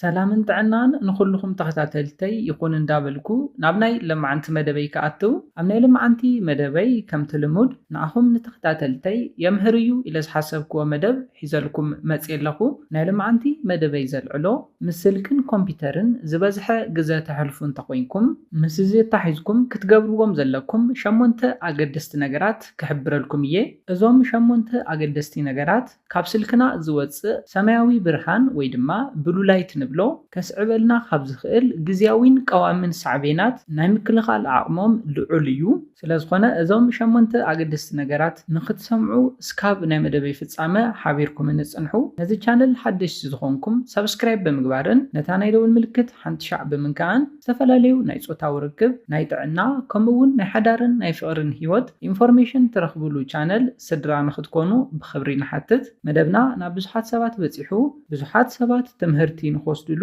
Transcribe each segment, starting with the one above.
ሰላምን ጥዕናን ንኹሉኹም ተኸታተልተይ ይኹን እንዳበልኩ ናብ ናይ ለማዓንቲ መደበይ ክኣትው ኣብ ናይ ለማዓንቲ መደበይ ከምቲ ልሙድ ንኣኹም ንተኸታተልተይ የምህር እዩ ኢለ ዝሓሰብክዎ መደብ ሒዘልኩም መጽየ ኣለኹ ናይ ለማዓንቲ መደበይ ዘልዕሎ ምስ ስልክን ኮምፒተርን ዝበዝሐ ግዘ ተሕልፉ እንተኾይንኩም ምስ እዚ ኣታሒዝኩም ክትገብርዎም ዘለኩም ሸሞንተ ኣገደስቲ ነገራት ክሕብረልኩም እየ እዞም ሸሞንተ ኣገደስቲ ነገራት። ካብ ስልክና ዝወጽእ ሰማያዊ ብርሃን ወይ ድማ ብሉ ላይት ንብሎ ከስዕበልና ካብ ዝኽእል ግዝያዊን ቀዋሚን ሳዕቤናት ናይ ምክልኻል ዓቕሞም ልዑል እዩ። ስለዝኾነ እዞም ሸሞንተ ኣገደስቲ ነገራት ንኽትሰምዑ እስካብ ናይ መደበይ ፍጻመ ሓቢርኩምኒ ጽንሑ። ነዚ ቻነል ሓደሽቲ ዝኾንኩም ሳብስክራይብ ብምግባርን ነታ ናይ ደወል ምልክት ሓንቲ ሻዕ ብምንካእን ዝተፈላለዩ ናይ ጾታዊ ርክብ፣ ናይ ጥዕና ከምኡ እውን ናይ ሓዳርን ናይ ፍቕርን ህይወት ኢንፎርሜሽን ትረኽብሉ ቻነል ስድራ ንኽትኮኑ ብኽብሪ ንሓትት። መደብና ናብ ብዙሓት ሰባት በጺሑ ብዙሓት ሰባት ትምህርቲ ንኽወስድሉ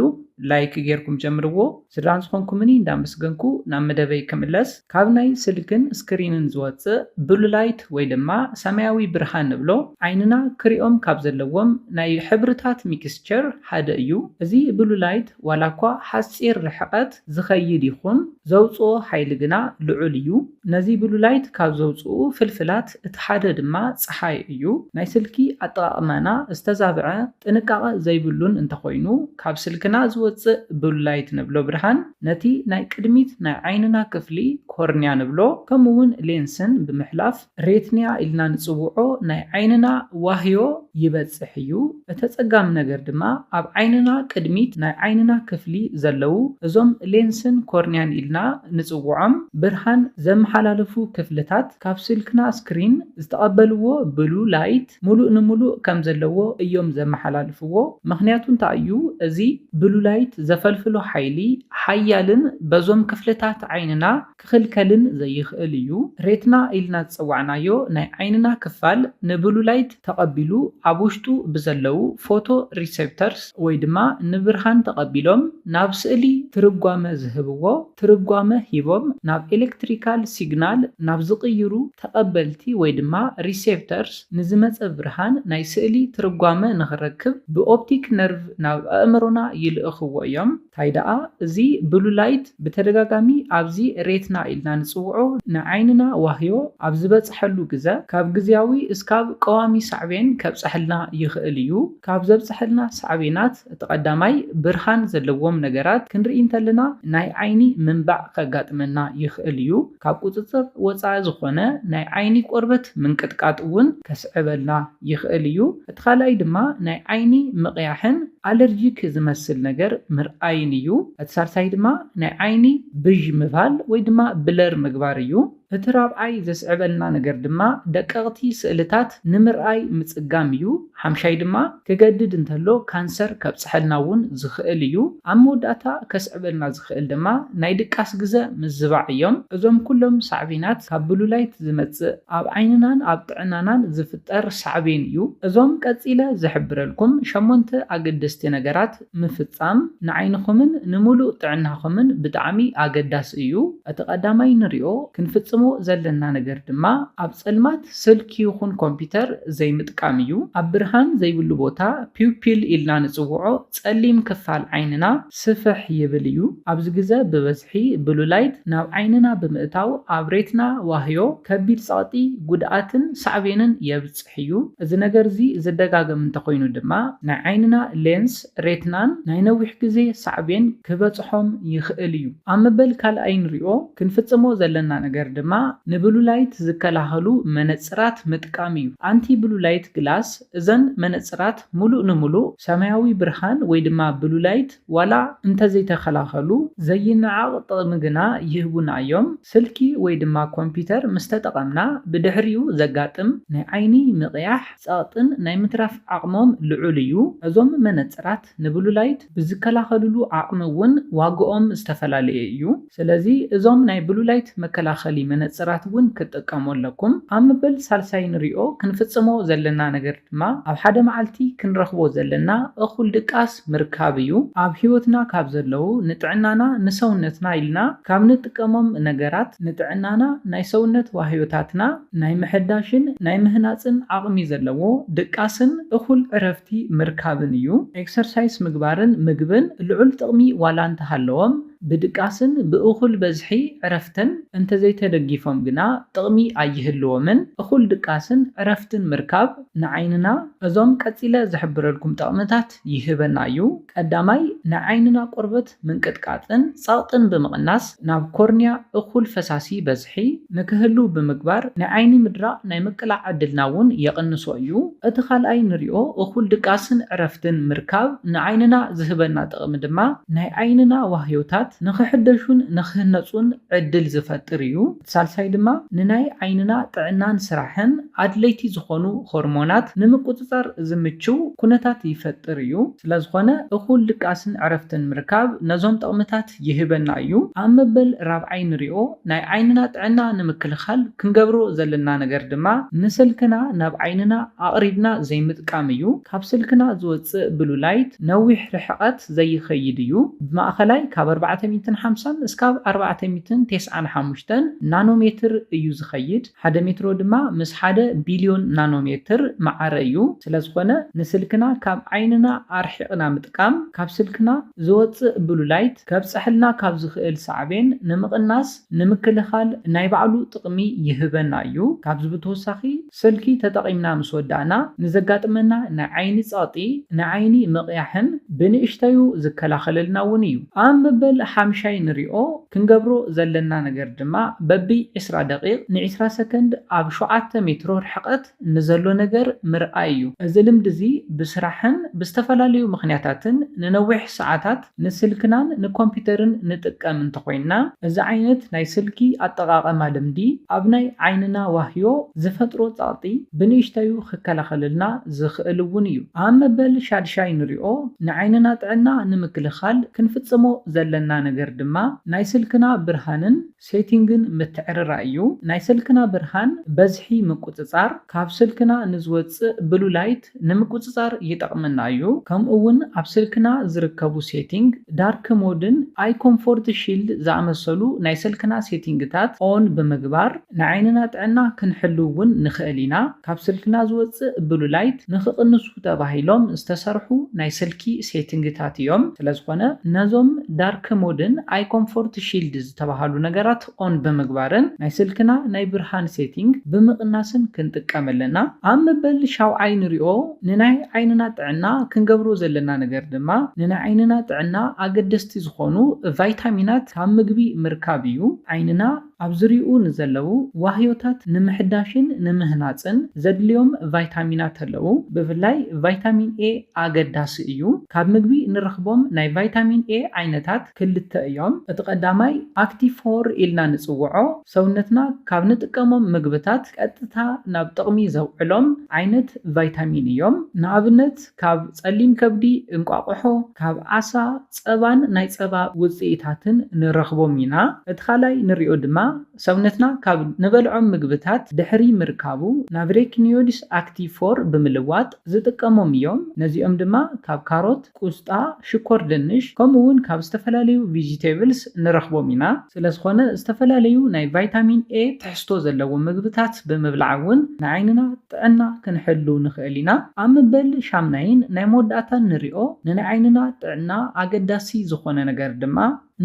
ላይክ ጌርኩም ጀምርዎ። ስድራ ንዝኾንኩምኒ እንዳመስገንኩ ናብ መደበይ ክምለስ። ካብ ናይ ስልክን ስክሪንን ዝወጽእ ብሉ ላይት ወይ ድማ ሰማያዊ ብርሃን ንብሎ ዓይንና ክሪኦም ካብ ዘለዎም ናይ ሕብርታት ሚክስቸር ሓደ እዩ። እዚ ብሉ ላይት ዋላኳ ሓጺር ርሕቐት፣ ዝኸይድ ይኹን ዘውጽኦ ሓይሊ ግና ልዑል እዩ። ነዚ ብሉላይት ካብ ዘውጽኡ ፍልፍላት እቲ ሓደ ድማ ጸሓይ እዩ። ናይ ስልኪ ኣጠቓቕማና ዝተዛብዐ፣ ጥንቃቐ ዘይብሉን እንተኾይኑ፣ ካብ ስልክና ዝወጽእ ብሉላይት ንብሎ ብርሃን ነቲ ናይ ቅድሚት ናይ ዓይንና ክፍሊ፣ ኮርንያ ንብሎ፣ ከምኡ'ውን ሌንስን ብምሕላፍ፣ ሬትኒያ ኢልና ንጽውዖ ናይ ዓይንና ዋህዮ ይበጽሕ እዩ። እተጸጋሚ ነገር ድማ ኣብ ዓይንና ቅድሚት ናይ ዓይንና ክፍሊ ዘለዉ እዞም ሌንስን ኮርኒያን ኢልና ንጽውዖም ብርሃን ዘመሓላልፉ ክፍልታት ካብ ስልክና ስክሪን ዝተቐበልዎ ብሉ ላይት ሙሉእ ንሙሉእ ከም ዘለዎ እዮም ዘመሓላልፍዎ ምኽንያቱ እንታይ እዩ እዚ ብሉ ላይት ዘፈልፍሎ ሓይሊ ሓያልን በዞም ክፍልታት ዓይንና ክኽልከልን ዘይኽእል እዩ። ሬትና ኢልና ዝጸዋዕናዮ ናይ ዓይንና ክፋል ንብሉ ላይት ተቐቢሉ ኣብ ውሽጡ ብዘለዉ ፎቶ ሪሰፕተርስ ወይ ድማ ንብርሃን ተቐቢሎም ናብ ስእሊ ትርጓመ ዝህብዎ ትርጓመ ሂቦም ናብ ኤለክትሪካል ሲግናል ናብ ዝቕይሩ ተቐበልቲ ወይ ድማ ሪሰፕተርስ ንዝመጸ ብርሃን ናይ ስእሊ ትርጓመ ንኽረክብ ብኦፕቲክ ነርቭ ናብ ኣእምሮና ይልእኽዎ እዮም። ታይ ደኣ እዚ ብሉ ላይት ብተደጋጋሚ ኣብዚ ሬትና ኢልና ንጽውዖ ንዓይንና ዋህዮ ኣብ ዝበጽሐሉ ግዘ ካብ ግዝያዊ እስካብ ቀዋሚ ሳዕቤን ከብጸሐልና ይኽእል እዩ። ካብ ዘብጸሐልና ሳዕቤናት እቲ ቀዳማይ ብርሃን ዘለዎም ነገራት ክንርኢ እንተለና ናይ ዓይኒ ምንባዕ ከጋጥመና ይኽእል እዩ። ካብ ቁጽጽር ወጻኢ ዝኾነ ናይ ዓይኒ ቆርበት ምንቅጥቃጥ እውን ከስዕበልና ይኽእል እዩ። እቲ ካልኣይ ድማ ናይ ዓይኒ ምቕያሕን ኣለርጂክ ዝመስል ነገር ምርኣይን እዩ። እቲ ሳልሳይ ድማ ናይ ዓይኒ ብዥ ምባል ወይ ድማ ብለር ምግባር እዩ። እቲ ራብዓይ ዘስዕበልና ነገር ድማ ደቀቕቲ ስእልታት ንምርኣይ ምጽጋም እዩ። ሓምሻይ ድማ ክገድድ እንተሎ ካንሰር ከብጽሐልና እውን ዝኽእል እዩ። ኣብ መወዳእታ ከስዕበልና ዝኽእል ድማ ናይ ድቃስ ግዘ ምዝባዕ እዮም። እዞም ኩሎም ሳዕቤናት ካብ ብሉላይት ዝመጽእ ኣብ ዓይንናን ኣብ ጥዕናናን ዝፍጠር ሳዕቤን እዩ። እዞም ቀጺለ ዝሕብረልኩም ሸሞንተ ኣገደስቲ ነገራት፣ ምፍጻም ንዓይንኹምን ንምሉእ ጥዕናኹምን ብጣዕሚ ኣገዳሲ እዩ። እቲ ቀዳማይ ንሪኦ ክንፍጽሞ ዘለና ነገር ድማ ኣብ ጸልማት ስልኪ ይኹን ኮምፒተር ዘይምጥቃም እዩ። ኣብ ብርሃን ዘይብሉ ቦታ ፒውፒል ኢልና ንጽውዖ ጸሊም ክፋል ዓይንና ስፍሕ ይብል እዩ። ኣብዚ ግዘ ብበዝሒ ብሉ ላይት ናብ ዓይንና ብምእታው ኣብ ሬትና ዋህዮ ከቢድ ጸቕጢ፣ ጉድኣትን ሳዕቤንን የብጽሕ። እዩ። እዚ ነገር እዚ ዝደጋገም እንተኾይኑ ድማ ናይ ዓይንና ሌንስ፣ ሬትናን ናይ ነዊሕ ግዜ ሳዕቤን ክበጽሖም ይኽእል እዩ። ኣብ መበል ካልኣይ ንሪኦ ክንፍጽሞ ዘለና ነገር ድማ ንብሉ ላይት ዝከላኸሉ መነጽራት ምጥቃም እዩ፣ ኣንቲ ብሉ ላይት ግላስ፣ እዘን መነጽራት ምሉእ ንምሉእ ሰማያዊ ብርሃን ወይ ድማ ብሉ ላይት፣ ዋላ እንተዘይተኸላኸሉ ዘይነዓቕ ጥቕሚ ግና ይህቡና እዮም። ስልኪ ወይ ድማ ኮምፒተር ምስ ተጠቐምና ብድሕሪኡ ዘጋጥም ናይ ዓይኒ ምቕያሕ፣ ጸቕጥን ናይ ምትራፍ ዓቕሞም ልዑል እዩ። እዞም መነጽራት ንብሉላይት ብዝከላኸልሉ ዓቕሚ እውን ዋግኦም ዝተፈላለየ እዩ። ስለዚ እዞም ናይ ብሉላይት መከላኸሊ መነጽራት እውን ክትጥቀሙ ኣለኩም። ኣብ መበል ሳልሳይ ንሪኦ ክንፍጽሞ ዘለና ነገር። ድማ ኣብ ሓደ መዓልቲ ክንረኽቦ ዘለና እኹል ድቃስ ምርካብ እዩ። ኣብ ሕይወትና ካብ ዘለዉ ንጥዕናና ንሰውነትና ኢልና ካብ ንጥቀሞም ነገራት ንጥዕናና ናይ ሰውነት ዋህዮታትና ናይ ምሕዳሽን ናይ ምህናጽን ዓቕሚ ዘለዎ ድቃስን እኹል ዕረፍቲ ምርካብን እዩ። ኤክሰርሳይስ ምግባርን ምግብን ልዑል ጥቕሚ ዋላ እንተሃለዎም፣ ብድቃስን ብእኹል በዝሒ ዕረፍትን እንተዘይተደጊፎም ግና ጥቕሚ ኣይህልዎምን። እኹል ድቃስን ዕረፍትን ምርካብ ንዓይንና እዞም ቀጺለ ዝሕብረልኩም ጠቕምታት ይህበና እዩ። ቀዳማይ፣ ንዓይንና ቆርበት ምንቅጥቃጥን ጸቕጥን ብምቕናስ ናብ ኮርንያ እኹል ፈሳሲ ይበጽሕ። ብዝሒ ንክህልው ብምግባር ናይ ዓይኒ ምድራቕ ናይ ምቅላዕ ዕድልና እውን የቕንሶ እዩ። እቲ ካልኣይ ንሪኦ እኹል ድቃስን ዕረፍትን ምርካብ ንዓይንና ዝህበና ጥቕሚ ድማ ናይ ዓይንና ዋህዮታት ንክሕደሹን ንክህነፁን ዕድል ዝፈጥር እዩ። እቲ ሳልሳይ ድማ ንናይ ዓይንና ጥዕናን ስራሕን ኣድለይቲ ዝኾኑ ሆርሞናት ንምቁፅፃር ዝምችው ኩነታት ይፈጥር እዩ። ስለዝኾነ እኹል ድቃስን ዕረፍትን ምርካብ ነዞም ጥቕምታት። ይህበና እዩ። ኣብ መበል ራብዓይ ንሪኦ ናይ ዓይንና ጥዕና ንምክልኻል ክንገብሮ ዘለና ነገር ድማ ንስልክና ናብ ዓይንና ኣቕሪብና ዘይምጥቃም እዩ። ካብ ስልክና ዝወፅእ ብሉ ላይት ነዊሕ ርሕቐት ዘይኸይድ እዩ። ብማእኸላይ ካብ ኣርባዕተ ሚእትን ሓምሳን እስካብ ኣርባዕተ ሚእትን ቴስዓን ሓሙሽተን ናኖ ሜትር እዩ ዝኸይድ። ሓደ ሜትሮ ድማ ምስ ሓደ ቢልዮን ናኖሜትር መዓረ እዩ። ስለዝኾነ ንስልክና ካብ ዓይንና ኣርሒቕና ምጥቃም ካብ ስልክና ዝወጽእ ብሉ ላይት ከብጸሐልና ካብ ዝኽእል ሳዕቤን ንምቕናስ፣ ንምክልኻል፣ ናይ ባዕሉ ጥቕሚ ይህበና እዩ። ካብዚ ብተወሳኺ ስልኪ ተጠቒምና ምስ ወዳእና ንዘጋጥመና ናይ ዓይኒ ጸቕጢ፣ ናይ ዓይኒ ምቕያሕን ብንእሽተዩ ዝከላኸለልና እውን እዩ። ኣብ መበል ሓምሻይ ንሪኦ። ክንገብሮ ዘለና ነገር ድማ በቢ ዕስራ ደቒቕ ንዕስራ ሰከንድ ኣብ ሸውዓተ ሜትሮ ርሕቐት ንዘሎ ነገር ምርኣይ እዩ። እዚ ልምዲ እዚ ብስራሕን ብዝተፈላለዩ ምኽንያታትን ንነዊሕ ሰዓታት ንስልክናን ንኮምፒተርን ንጥቀም እንተኾይንና፣ እዚ ዓይነት ናይ ስልኪ ኣጠቓቕማ ልምዲ ኣብ ናይ ዓይንና ዋህዮ ዝፈጥሮ ጸቕጢ ብንእሽተዩ ክከላኸለልና ዝኽእል እውን እዩ። ኣብ መበል ሻድሻይ ንሪኦ ንዓይንና ጥዕና ንምክልኻል ክንፍጽሞ ዘለና ነገር ድማ ናይ ስልክና ብርሃንን ሴቲንግን ምትዕርራይ እዩ። ናይ ሰልክና ብርሃን በዝሒ ምቁጽጻር ካብ ስልክና ንዝወጽእ ብሉ ላይት ንምቁጽጻር ይጠቕመና እዩ። ከምኡ ውን ኣብ ስልክና ዝርከቡ ሴቲንግ፣ ዳርክ ሞድን ኣይ ኮምፎርት ሺልድ ዝኣመሰሉ ናይ ሰልክና ሴቲንግታት ኦን ብምግባር ንዓይንና ጥዕና ክንሕሉ ውን ንኽእል ኢና። ካብ ስልክና ዝወጽእ ብሉ ላይት ንኽቕንሱ ተባሂሎም ዝተሰርሑ ናይ ስልኪ ሴቲንግታት እዮም። ስለዝኾነ ነዞም ዳርክ ሞድን ኣይኮምፎርት ሺልድ ዝተባሃሉ ነገራት ኦን ብምግባርን ናይ ስልክና ናይ ብርሃን ሴቲንግ ብምቕናስን ክንጥቀም ኣለና። ኣብ መበል ሻውዓይ ንሪኦ ንናይ ዓይንና ጥዕና ክንገብሮ ዘለና ነገር ድማ ንናይ ዓይንና ጥዕና ኣገደስቲ ዝኾኑ ቫይታሚናት ካብ ምግቢ ምርካብ እዩ። ዓይንና። ኣብ ዙርይኡ ንዘለዉ ዋህዮታት ንምሕዳሽን ንምህናጽን ዘድልዮም ቫይታሚናት ኣለዉ። ብፍላይ ቫይታሚን ኤ ኣገዳሲ እዩ። ካብ ምግቢ ንረኽቦም ናይ ቫይታሚን ኤ ዓይነታት ክልተ እዮም። እቲ ቀዳማይ ኣክቲቭ ፎር ኢልና ንጽውዖ ሰውነትና ካብ ንጥቀሞም ምግብታት ቀጥታ ናብ ጥቕሚ ዘውዕሎም ዓይነት ቫይታሚን እዮም። ንኣብነት ካብ ጸሊም ከብዲ፣ እንቋቑሖ፣ ካብ ዓሳ፣ ጸባን ናይ ጸባ ውጽኢታትን ንረኽቦም ኢና። እቲ ካልኣይ ንሪኦ ድማ ሰውነትና ካብ ንበልዖም ምግብታት ድሕሪ ምርካቡ ናብ ሬክኒዮድስ ኣክቲቭ ፎር ብምልዋጥ ዝጥቀሞም እዮም። ነዚኦም ድማ ካብ ካሮት፣ ቁስጣ፣ ሽኮር ድንሽ ከምኡ'ውን ካብ ዝተፈላለዩ ቪጂቴብልስ ንረኽቦም ኢና። ስለዝኾነ ዝተፈላለዩ ናይ ቫይታሚን ኤ ትሕዝቶ ዘለዎም ምግብታት ብምብላዕ እውን ንዓይንና። ጥዕና ክንሕሉ ንኽእል ኢና። ኣብ መበል ሻምናይን ናይ መወዳእታን ንሪኦ ንንዓይንና ጥዕና ኣገዳሲ ዝኾነ ነገር ድማ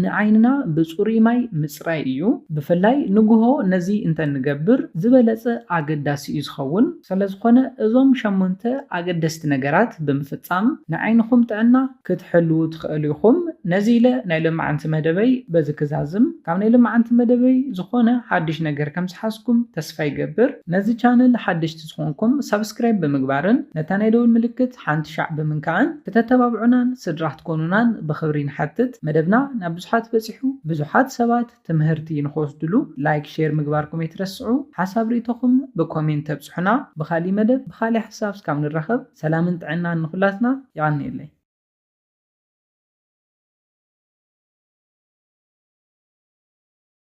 ንዓይንና ብፅሩይ ማይ ምፅራይ እዩ። ብፍላይ ንጉሆ ነዚ እንተንገብር ዝበለፀ ኣገዳሲ እዩ ዝኸውን። ሰለዝኾነ እዞም ሸሞንተ ኣገደስቲ ነገራት ብምፍፃም ንዓይንኹም ጥዕና ክትሕልዉ ትኸእሉ ኢኹም። ነዚ ኢለ ናይ ለማዓንቲ መደበይ በዚ ክዛዝም። ካብ ናይ ለማዓንቲ መደበይ ዝኾነ ሓድሽ ነገር ከም ዝሓዝኩም ተስፋ ይገብር። ነዚ ቻነል ሓደሽቲ ዝኾንኩም ሳብስክራይብ ብምግባርን ነታ ናይ ደውል ምልክት ሓንቲ ሻዕ ብምንካዕን ክተተባብዑናን ስድራ ክትኮኑናን ብኽብሪ ንሓትት። መደብና ናብ ብዙሓት በጺሑ ብዙሓት ሰባት። ትምህርቲ ንክወስድሉ ላይክ ሼር ምግባርኩም ኣይትረስዑ ሓሳብ ሪኢቶኹም ብኮሜንት ተብጽሑና ብኻሊእ መደብ ብኻሊእ ሓሳብ እስካብ ንራኸብ ሰላምን ጥዕናን ንኹላትና የቀንየለይ።